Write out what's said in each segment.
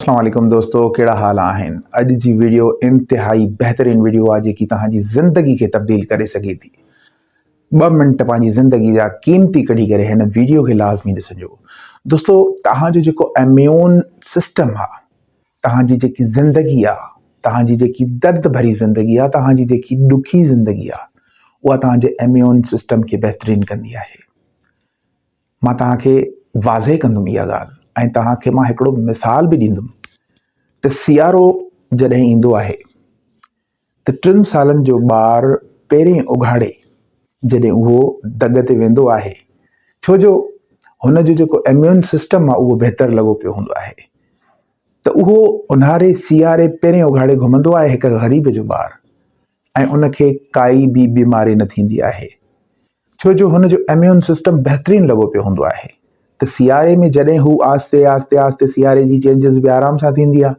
اسلام عليڪم دوستو ڪهڙا حال آهن اڄ جي ويڊيو انتهائي بهترين ويڊيو آهي جيڪي توهان جي زندگي کي تبديل ڪري سگهي ٿي ٻه منٽ پنهنجي زندگي جا قيمتي ڪڍي ڪري هن ويڊيو کي لازمي ڏسجو دوستو توهان جو جيڪو اميون سسٽم آهي توهان جي جيڪي زندگي آهي توهان جي جيڪي درد ڀري زندگي آهي توهان جي جيڪي ڏکي زندگي آهي اها توهان جي اميون سسٽم کي بهترين ڪندي آهي مان توهان کي واضح ڪندم اها ڳالهه ۽ توهان کي مان هڪڙو مثال به ڏيندم ته سيارو جڏهن ايندو آهي ته ٽن سالن جو ٻار پهرين اگهاڙي جڏهن اهو دڳ تي ويندو آهي ڇو جو هن جو جيڪو اميون سسٽم آهي اهو بهتر لڳو پيو هوندو آهي ته اهو اونهاري سياري پهرين اگهاڙي گهمندو آهي هڪ غريب جو ٻار ۽ ان کي ڪائي به بيماري نه ٿيندي آهي ڇو جو هن جو اميون سسٽم بهترين لڳو پيو هوندو آهي ته سياري ۾ جڏهن هو آهستي آهستي آهستي سياري جي چينجز به آرام سان ٿيندي آهي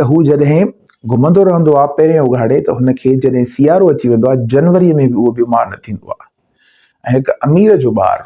ته هو جڏهن گهمندو رهندو آهي پهرين اگهاڙي ته هن کي جڏهن سيارو اچي ويندو آهي جنوري ۾ به اهو بيمار نه ٿيندو آهي ۽ هڪ امير جو ٻار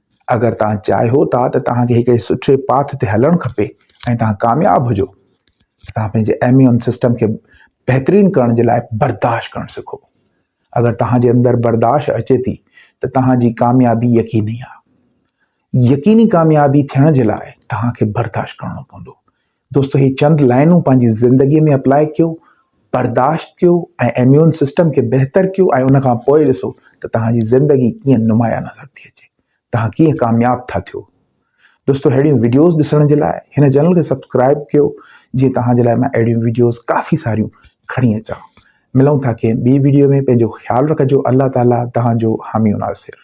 اگر توهان چاهيو ٿا ته توهان کي هڪڙي سٺي پاٿ تي هلڻ کپي ۽ توهان ڪامياب هجو ته توهان پنهنجي ايميون سسٽم کي بهترين ڪرڻ جي لاء برداشت ڪرڻ سکو اگر توهان جي اندر برداشت اچي ٿي ته توهان جي ڪاميابي يقيني آهي يقيني ڪاميابي ٿيڻ جي لاء توهان کي برداشت ڪرڻو پوندو دوستو هي چند لائنون پنهنجي زندگي ۾ اپلاء ڪيو برداشت ڪيو ۽ اميون سسٽم کي بهتر ڪيو ۽ ان کان پوء ڏسو ته توهان جي زندگي ڪيئن نمايان نظر ٿي اچي توهان ڪيئن ڪامياب ٿا ٿيو دوستو اهڙيون ويڊيوز ڏسڻ جي لاء هن چينل کي سبسڪرائب ڪيو جي توهان جي لاء مان اهڙيون ويڊيوز ڪافي ساريون کڻي اچان ملون ٿا ڪنهن ٻي ويڊيو ۾ پنهنجو خيال رکجو الله تعاليٰ توهان جو حامي ناصر